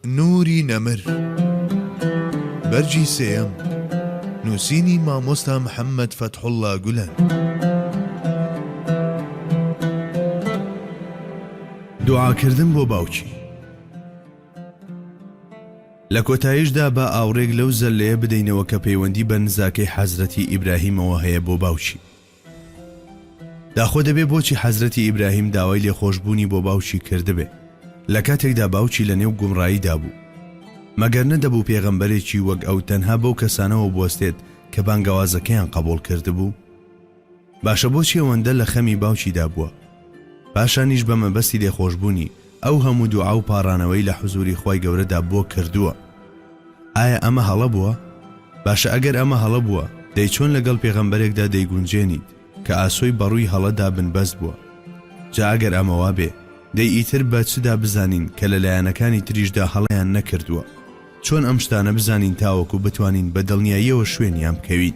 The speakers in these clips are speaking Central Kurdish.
نوری نەمر، بەرگی سێیەم، نووسینی مامۆستا محەممەد فەتحوڵڵا گولەن. دوعاکردن بۆ باوکی لە کۆتاییشدا با ئاوڕێک لەو زەللەیە بدەینەوە کە پەیوەندی بە نزاکەی حەزرەتی ئیبراهیمەوە هەیە بۆ باوکی. داخۆ دەبێ بۆچی حەزرەتی ئیبراهیم داوای لێخۆشبوونی بۆ باوکی کردبێ لە کاتێکدا باوکی لە نێو گومڕاییدا بوو؟ مەگەر نەدەبوو پێغەمبەرێکی وەک ئەو تەنها بەو کەسانەوە بوەستێت کە بانگەوازەکەیان قەبووڵ کردبوو؟ باشە بۆچی ئەوەندە لە خەمی باوکیدا بووە؟ پاشانیش بە مەبەستی لێخۆشبوونی ئەو هەموو دوعا و پاڕانەوەی لە حزوری خوای گەورەدا بۆ کردووە ئایا ئەمە هەڵە بووە؟ باشە ئەگەر ئەمە هەڵە بووە دەی چۆن لەگەڵ پێغەمبەرێکدا دەیگونجێنیت کە ئاسۆی بەڕووی هەڵەدا بنبەست بووە؟ جا ئەگەر ئەمە وابێ دەی ئیتر بە چدا بزانین کە لە لایەنەکانی تریشدا هەڵەیان نەکردووە؟ چۆن ئەم شتانە بزانین تاوەکو بتوانین بە دڵنیاییەوە شوێنیان بکەوین؟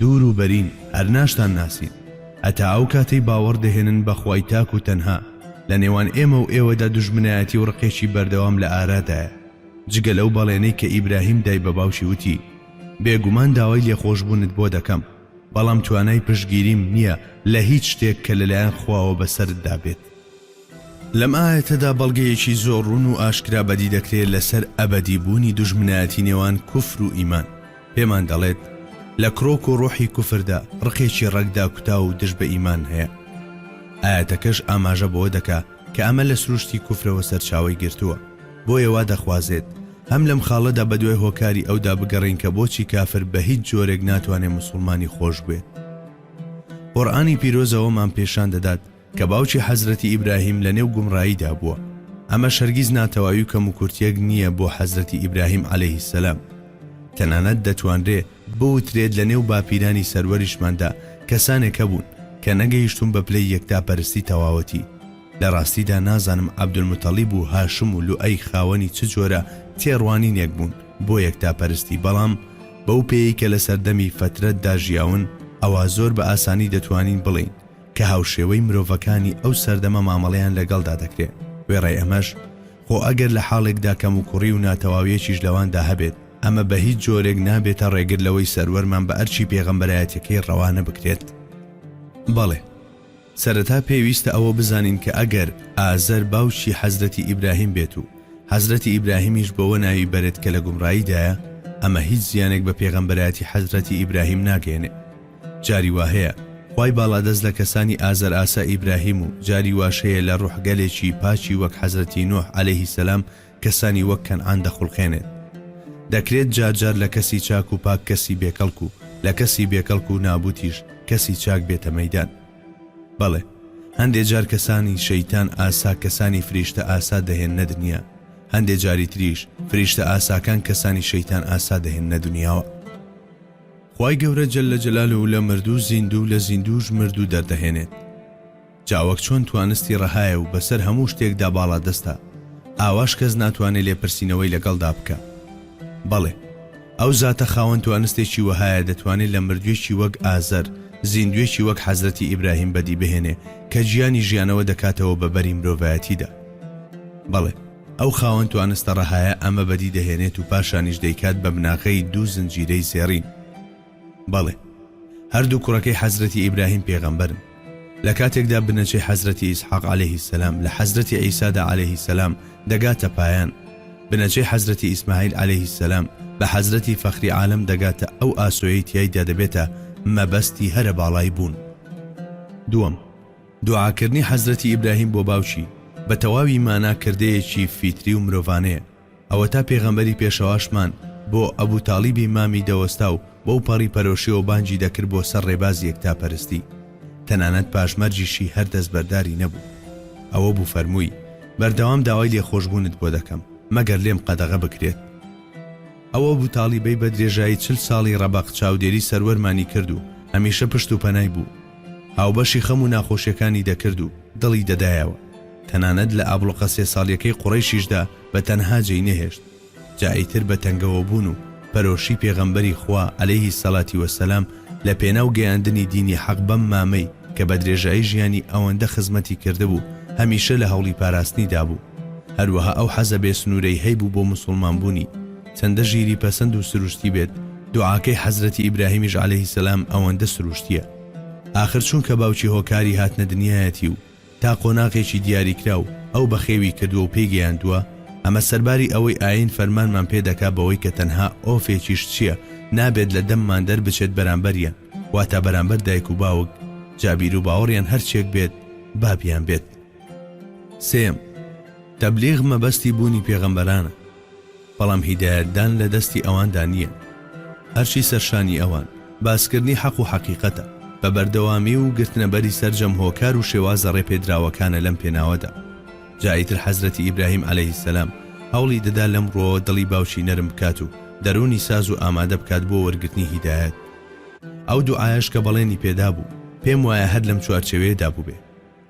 دوور و بەرین هەر ناشتان ناسین هەتا ئەو کاتەی باوەڕ دەهێنن بە خوای تاک و تەنها، لە نێوان ئێمە و ئێوەدا دوژمنایەتی و ڕقێکی بەردەوام لە ئارادایە، جگە لەو بەڵێنەی کە ئیبراهیم دای بە باوکی وتی، بێ گومان داوای لێخۆشبوونت بۆ دەکەم، بەڵام توانای پشتگیریم نییە لە هیچ شتێک کە لەلایەن خواوە بەسەرتدا بێت. لەم ئایەتەدا بەڵگەیەکی زۆر ڕوون و ئاشکرا بەدی دەکرێت لەسەر ئەبەدی بوونی دوژمنایەتی نێوان کوفر و ئیمان، پێمان دەڵێت، لە کرۆک و ڕۆحی کوفردا ڕقێکی ڕەگ داکوتاو و دژ بە ئیمان هەیە. ئایەتەکەش ئاماژە بەوە دەکا کە ئەمە لە سروشتی کوفرەوە سەرچاوەی گرتووە، بۆیە وا دەخوازێت هەم لەم خاڵەدا بەدوای هۆکاری ئەودا بگەڕێین کە بۆچی کافر بە هیچ جۆرێک ناتوانێت موسوڵمانی خۆشبوێت. قورئانی پیرۆز ئەوەمان پێشان دەدات کە باوکی حەزرەتی ئیبراهیم لە نێو گومڕاییدا بووە، ئەمەش هەرگیز ناتەواوی و کەموکورتیەک نییە بۆ حەزرەتی ئیبراهیم عەلەیه السلام، تەنانەت دەتوانرێ بوترێت لە نێو باپیرانی سەروەریشماندا کەسانێک هەبوون کە نەگەیشتوون بە پلەی یەکتاپەرستی تەواوەتی، لە ڕاستیدا نازانم عەبدولموتەڵیب و هاشم و لوئەی خاوەنی چ جۆرە تێڕوانینێک بوون بۆ یەکتاپەرستی بەڵام بەو پێیەی کە لە سەردەمی فەترەتدا ژیاون ئەوا زۆر بە ئاسانی دەتوانین بڵێین کە هاوشێوەی مرۆڤەکانی ئەو سەردەمە مامەڵەیان لەگەڵدا دەکرێ، وێڕای ئەمەش خۆ ئەگەر لە حاڵێکدا کەموکوڕی و ناتەواویەکیش لەواندا هەبێت، ئەمە بە هیچ جۆرێک نابێتە ڕێگر لەوەی سەروەرمان بە ئەرکی پێغەمبەرایەتیەکەی ڕەوانە بکرێت. بەڵێ، سەرەتا پێویستە ئەوە بزانین کە ئەگەر ئازەر باوکی حەزرەتی ئیبراهیم بێت و حەزرەتی ئیبراهیمیش بەوە ناوی بەرێت کە لە گومڕاییدایە، ئەمە هیچ زیانێک بە پێغەمبەرایەتی حەزرەتی ئیبراهیم ناگەیەنێ. جاری واهەیە خوای باڵا دەست لە کەسانی ئازەر ئاسا ئیبراهیم و جاری واش هەیە لە ڕوح گەلێکی پاکی وەک حەزرەتی نوح علیە سلام کەسانی وەک کەنعان دەخوڵقێنێت دەکرێت جار جار لە کەسی چاک و پاک کەسی بێکەڵک و لە کەسی بێکەڵک و نابوتیش کەسی چاک بێتە مەیدان بەڵێ هەندێ جار کەسانی شەیتان ئاسا کەسانی فریشتە ئاسا دەهێننە دنیا هەندێ جاری تریش فریشتە ئاساکان کەسانی شەیتان ئاسا دەهێننە دنیاوە. خوای گەورە جل جلالە لە مردوو زیندوو لە زیندووش مردوو دەردەهێنێت جا وەک چۆن توانستی ڕەهایە و بەسەر هەموو شتێکدا باڵادەستە ئاواش کەس ناتوانێت لێپرسینەوەی لەگەڵدا بکە بەڵێ ئەو زاتە خاوەن توانستێکی وەهایە دەتوانێت لە مردوێکی وەک ئازەر زیندوێکی وەک حەزرەتی ئیبراهیم بەدی بهێنێ کە گیانی ژیانەوە دەکاتەوە بە بەری مرۆڤایەتیدا بەڵێ ئەو خاوەن توانستە ڕەهایە ئەمە بەدی دەهێنێت و پاشانیش دەیکات بە بناغەی دوو زنجیرەی زێڕین. بەڵێ، هەردوو کوڕەکەی حەزرەتی ئیبراهیم پێغەمبەرن. لە کاتێکدا بنەچەی حەزرەتی ئیسحاق عەلەیه السلام لە حەزرەتی عیسادا عەلەیه السلام دەگاتە پایان، بنەچەی حەزرەتی ئیسماعیل عەلەیه السلام بە حەزرەتی فەخری عالەم دەگاتە ئەو ئاسۆیەی تیایدا دەبێتە مەبەستی هەرە باڵای بوون. دووەم. دوعاکردنی حەزرەتی ئیبراهیم بۆ باوکی بە تەواوی مانا کردەیەکی فیتری و مرۆڤانەیە، ئەوەتا پێغەمبەری پێشەواشمان بۆ ئەبو تالیبی مامی دەوەستا و بەو پەڕی پەرۆشیەوە بانگی دەکرد بۆ سەر ڕێبازی یەکتاپەرستی، تەنانەت پاشمەرجیشی هەر دەستبەرداری نەبوو. ئەوە بوو فەرمووی، بەردەوام داوای لێخۆشبوونت بۆ دەکەم، مەگەر لێم قەدەغە بکرێت. ئەو ئەبو تالیبەی بە درێژایی چل ساڵی ڕەبەق چاودێری سەروەرمانی کرد و هەمیشە پشت و پەنای بوو، هاوبەشی خەم و ناخۆشیەکانی دەکرد و دڵی دەدایەوە، تەنانەت لە ئابڵوقە سێ ساڵیەکەی قوڕەیشیشدا بە تەنها جێی نەهێشت، جا ئیتر بە تەنگەوە بوون و پەرۆشی پێغەمبەری خوا علیە الصلوة والسلام لە پێناو گەیاندنی دینی حەق بەم مامەی کە بە درێژایی ژیانی ئەوەندە خزمەتی کردبوو هەمیشە لە هەوڵی پاراستنی دابوو، هەروەها ئەو حەزە بێ سنوورەی هەیبوو بۆ موسوڵمان بوونی. چەندە ژیری پەسەند و سروشتی بێت دوعاکەی حەزرەتی ئیبراهیمیش عەلەیهی سەلام ئەوەندە سروشتیە ئاخر چونکە باوکی هۆکاری هاتنە دنیایەتی و تا قۆناغێکی دیاریکراو ئەو بەخێوی کردوە و پێی گەیاندوە ئەمە سەرباری ئەوەی ئاین فەرمانمان پێ دەکا بەوەی کە تەنها ئۆفێکیش چیە نابێت لە دەممان دەربچێت بەرامبەریان واتا بەرامبەر دایک و باوک جا بیرو باوەڕیان هەرچیەک بێت بابیان بێت سێم تەبلیغ مەبەستی بونی پێغەمبەرانە. بەڵام هیدایەتدان لە دەستی ئەواندا نییە، ئەرشی سەرشانی ئەوان، باسکردنی حەق و حەقیقەتە، بە بەردەوامی و گرتنەبەری سەرجەم هۆکار و شێوازە ڕێپێدراوەکانە لەم پێناوەدا. جا ئیتر حەزرەتی ئیبراهیم عەلەیهی سەلام هەوڵی دەدا لەم ڕووەوە دڵی باوکی نەرم بکات و دەروونی ساز و ئامادە بکات بۆ وەرگرتنی هیدایەت. ئەو دوعایەش کە بەڵێنی پێدابوو، پێموایە هەر لەم چوارچێوەیەدا بووبێ.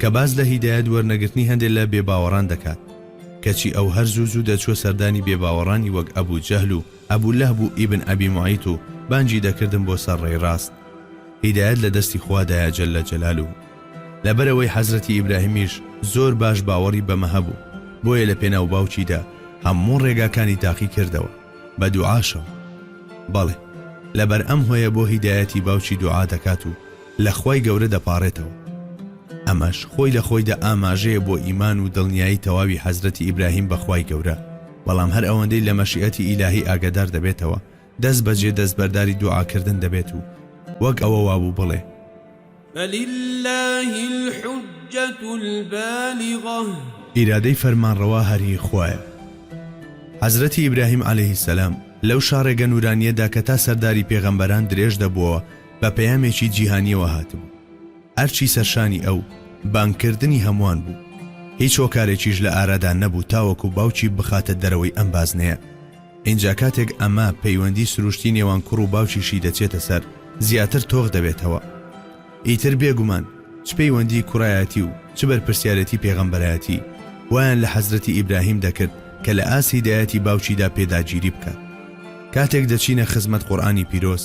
کە باس لە هیدایەت وەرنەگرتنی هەندێ لە بێ باوەڕان دەکات کەچی ئەو هەر زوو زوو دەچووە سەردانی بێ باوەڕانی وەک ئەبو جەهل و ئەبو لەهب و ئیبن ئەبی موعیت و بانگی دەکردن بۆ سەر ڕێی ڕاست هیدایەت لە دەستی خوادایە جل جلالە لەبەرئەوەی حەزرەتی ئیبراهیمیش زۆر باش باوەڕی بەمە هەبوو بۆیە لە پێناو باوکیدا هەموو ڕێگاکانی تاقی کردەوە بە دوعاشەوە بەڵێ لەبەر ئەم هۆیە بۆ هیدایەتی باوکی دوعا دەکات و لە خوای گەورە دەپاڕێتەوە. ئەمەش خۆی لە خۆیدا ئاماژەیە بۆ ئیمان و دڵنیایی تەواوی حەزرەتی ئیبراهیم بە خوای گەورە، بەڵام هەر ئەوەندەی لە مەشیئەتی ئیلاهی ئاگادار دەبێتەوە دەست بەجێ دەستبەرداری دوعاکردن دەبێت و وەک ئەوە وابوو بڵێ. فللە الحجە البالغە. ئیرادەی فەرمانڕەوا هەر هی خوایە. حەزرەتی ئیبراهیم عەلەیهی سەلام لەو شاڕێگە نورانییەدا کە تا سەرداری پێغەمبەران درێژ دەبووەوە بە پەیامێکی جیهانیەوە هاتبوو هەرچی سەرشانی ئەو بانگکردنی هەمووان بوو هیچ هۆکارێکیش لە ئارادا نەبوو تاوەکو باوکی بخاتە دەرەوەی ئەم بازنەیە ئینجا کاتێک ئەمە پەیوەندی سروشتی نێوان کوڕ و باوکیشی دەچێتە سەر زیاتر تۆغ دەبێتەوە ئیتر بێگومان چ پەیوەندی کوڕایەتی و چ بەرپرسیارەتی پێغەمبەرایەتی وایان لە حەزرەتی ئیبراهیم دەکرد کە لە ئاست هیدایەتی باوکیدا پێداگیری بکات کاتێک دەچینە خزمەت قورآانی پیرۆز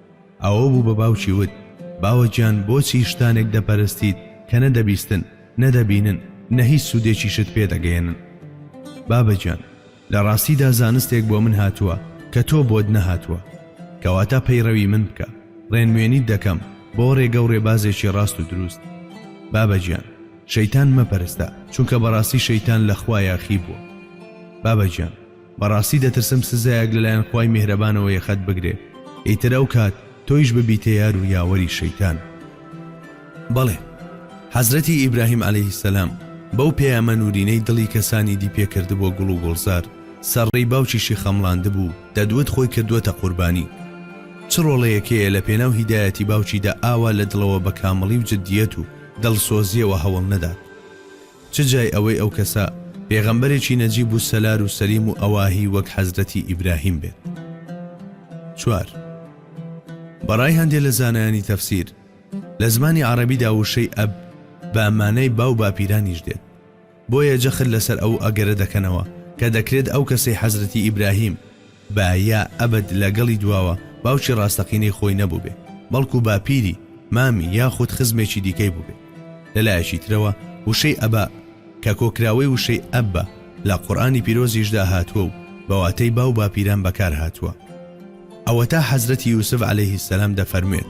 ئەوە بوو بە باوکی وت باوەگیان بۆچی شتانێک دەپەرستیت کە نە دەبیستن نە دەبینن نە هیچ سوودێکیشت پێ دەگەیەنن بابەگیان لە ڕاستیدا زانستێک بۆ من هاتووە کە تۆ بۆت نەهاتووە کەواتە پەیڕەوی من بکە ڕێنموێنیت دەکەم بۆ ڕێگە و ڕێبازێکی ڕاست و دروست بابەگیان شەیتان مەپەرستە چونکە بەڕاستی شەیتان لە خوا یاخی بووە بابەگیان بەڕاستی دەترسم سزایەک لەلایەن خوای میهرەبانەوە یەخەت بگرێ ئیتر ئەو کات تۆیش ببیتە یار و یاوەری شەیتان بەڵێ حەزرەتی ئیبراهیم عەلەیهی سەلام بەو پەیامە نورینەی دڵی کەسانی دی پێ کردبووە گوڵ و گوڵزار سەرڕێی باوکیشی خەمڵاندبوو دەدوت خۆی کردووەتە قوربانی چ ڕۆڵەیەک هەیە لە پێناو هیدایەتی باوکیدا ئاوا لە دڵەوە بە کامڵی و جدیەت و دڵسۆزیەوە هەوڵ نەدات چ جای ئەوەی ئەو کەسە پێغەمبەرێکی نەجیب و سەلار و سەلیم و ئەواهی وەک حەزرەتی ئیبراهیم بێت. چوار. بەڕای هەندێ لە زانایانی تەفسیر، لە زمانی عەڕەبیدا وشەی ئەب بە مانای باو باپیرانیش دێت، بۆیە جەخت لەسەر ئەو ئەگەرە دەکەنەوە کە دەکرێت ئەو کەسەی حەزرەتی ئیبراهیم، با یا ئەبەد لە گەڵی دواوە باوکی ڕاستەقینەی خۆی نەبووبێ، بەڵکو باپیری، مامی، یاخود خزمێکی دیکەی بووبێ. لە لایەکی ترەوە وشەی ئەبا، کە کۆکراوەی وشەی ئەبە، لە قورئانی پیرۆزیشدا هاتووە و بە واتەی باو باپیران بەکار هاتووە. ئەوەتا حەزرەتی یوسف عەلەیهی سەلام دەفەرموێت.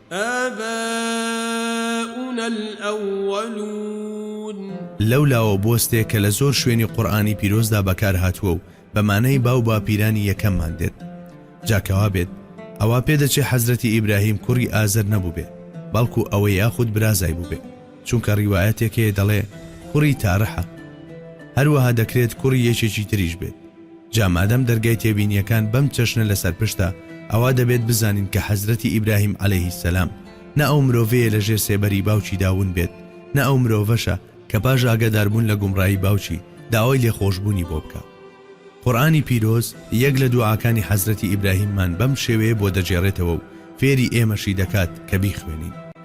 آباؤنا الأولون. لەو لاوە بۆستێ کە لە زۆر شوێنی قورئانی پیرۆزدا بەکار هاتووە و بە مانای باو باپیرانی یەکەممان دێت جا کەوا بێت ئەوا پێ دەچێ حەزرەتی ئیبراهیم کوڕی ئازەر نەبووبێ بەڵکوو ئەوە یاخود برازای بووبێ چونکە ڕیوایەتێک هەیە دەڵێ کوڕی تارحە هەروەها دەکرێت کوڕی یەکێکی تریش بێت. جا مادام دەرگای تێبینیەکان بەم چەشنە لەسەر پشتە ئەوا دەبێت بزانین کە حەزرەتی ئیبراهیم عەلەیه السلام نە ئەو مرۆڤەیە لە ژێر سێبەری باوکیدا ون بێت نە ئەو مرۆڤەشە کە پاش ئاگاداربوون لە گومڕایی باوکی داوای لێخۆشبوونی بۆ بکا. قورئانی پیرۆز یەک لە دوعاکانی حەزرەتی ئیبراهیممان بەم شێوەیە بۆ دەگێڕێتەوە و فێری ئێمەشی دەکات کە بیخوێنین.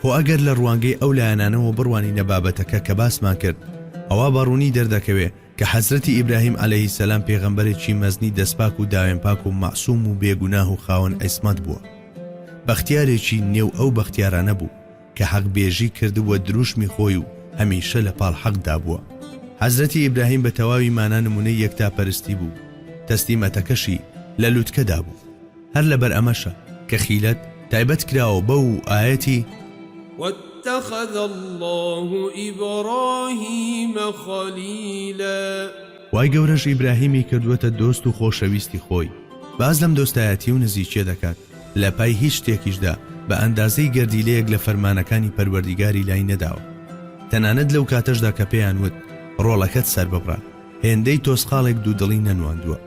خۆ ئەگەر لە ڕوانگەی ئەو لایەنانەوە بڕوانینە بابەتەکە کە باسمان کرد ئەوا بە ڕوونی دەردەکەوێ کە حەزرەتی ئیبراهیم عەلەیهی سەلام پێغەمبەرێکی مەزنی دەستپاک و داوێنپاک و مەعسوم و بێ گوناه و خاوەن عیسمەت بووە بەختیارێکی نێو ئەو بەختیارانە بوو کە حەق بێژی کردبووە دروشمی خۆی و هەمیشە لە پاڵ حەق دا بووە حەزرەتی ئیبراهیم بە تەواوی مانا نموونەی یەکتا پەرستی بوو تەسلیمەتەکەشی لە لوتکەدا بوو. هەر لەبەر ئەمەشە کە خیلەت تایبەت کراوە بەو و ئایەتی. واتخذ اللە ابراهیم خلیلا. خوای گەورەش ئیبراهیمی کردووەتە دۆست و خۆشەویستی خۆی، باس لەم دۆستایەتی و نزیکیە دەکات لە پای هیچ شتێکیشدا بە ئەندازەی گەردیلەیەک لە فەرمانەکانی پەروەردیگاری لای نەداوە تەنانەت لەو کاتەشدا کە پێیان وت ڕۆڵەکەت سەرببڕە، هێندەی تۆزقاڵێک دوودڵی نەنواندووە.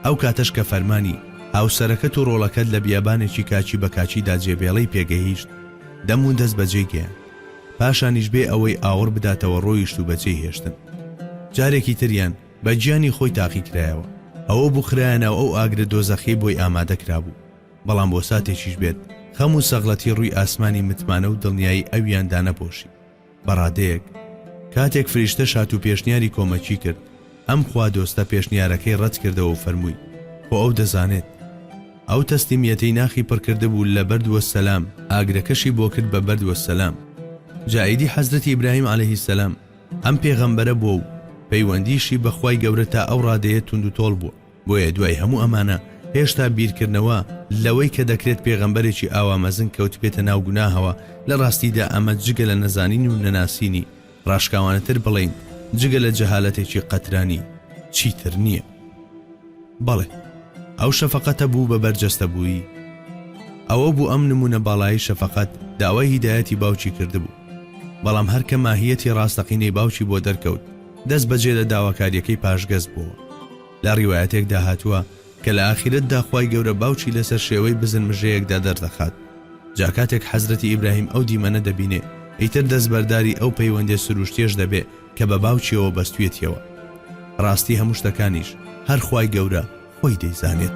ئەو کاتەش کە فەرمانی، هاوسەرەکەت و ڕۆڵەکەت لە بیابانێکی کاکی بە کاکیدا جێبێڵێی پێ گەهیشت، دەم و دەست بەجێی گەیاند. پاشانیش بێ ئەوەی ئاوڕ بداتەوە ڕۆیشت و بەجێی هێشتن. جارێکی تریان بە گیانی خۆی تاقی کرایەوە. ئەوە بوو خرایە ناو ئەو ئاگرە دۆزەخیەی بۆی ئامادە کرابوو. بەڵام بۆ ساتێکیش بێت، خەم و سەغڵەتی ڕووی ئاسمانی متمانە و دڵنیایی ئەویان دانەپۆشی. بە ڕادەیەک کاتێک فریشتەش هات و پێشنیاری کۆمەکی کرد، ئەم خوادۆستە پێشنیارەکەی ڕەت کردەوە و فەرمووی، خۆ ئەو دەزانێت. ئەو تەسلیمیەتەی ناخی پڕ کردبوو لە بەرد وەسسەلام، ئاگرەکەشی بۆ کرد بە بەرد وەسسەلام. جا ئیدی حەزرەتی ئیبراهیم عەلەیهی سەلام ئەم پێغەمبەرە بووە و پەیوەندیشی بە خوای گەورە تا ئەو ڕادەیە توندوتۆڵ بووە. بۆیە دوای هەموو ئەمانە هێشتا بیرکردنەوە لەوەی کە دەکرێت پێغەمبەرێکی ئاوا مەزن کەوتبێتە ناو گوناهەوە لە ڕاستیدا ئەمە جگە لە نەزانین و نەناسینی ڕاشکاوانەتر بڵێین جگە لە جەهالەتێکی قەترانی چیتر نییە بەڵێ ئەو شەفقەتە بوو بە بەرجەستە بووی ئەوە بوو ئەم نمونە باڵایی شەفقەت داوای هیدایەتی باوکی کردبوو بەڵام هەرکە ماهیەتی ڕاستەقینەی باوکی بۆ دەرکەوت دەست بەجێ لە داواکاریەکەی پاشگەز بووە لە ڕیوایەتێکدا هاتووە کە لە ئاخیرەتدا خوای گەورە باوکی لەسەر شێوەی بزن مژەیەکدا دەردەخات جا کاتێک حەزرەتی ئیبراهیم ئەو دیمەنە دەبینێ ئیتر دەستبەرداری ئەو پەیوەندێ سروشتیەش دەبێ کە بە باوکیەوە بەستویەتیەوە ڕاستی هەموو شتەکانیش هەر خوای گەورە خۆی دەیزانێت.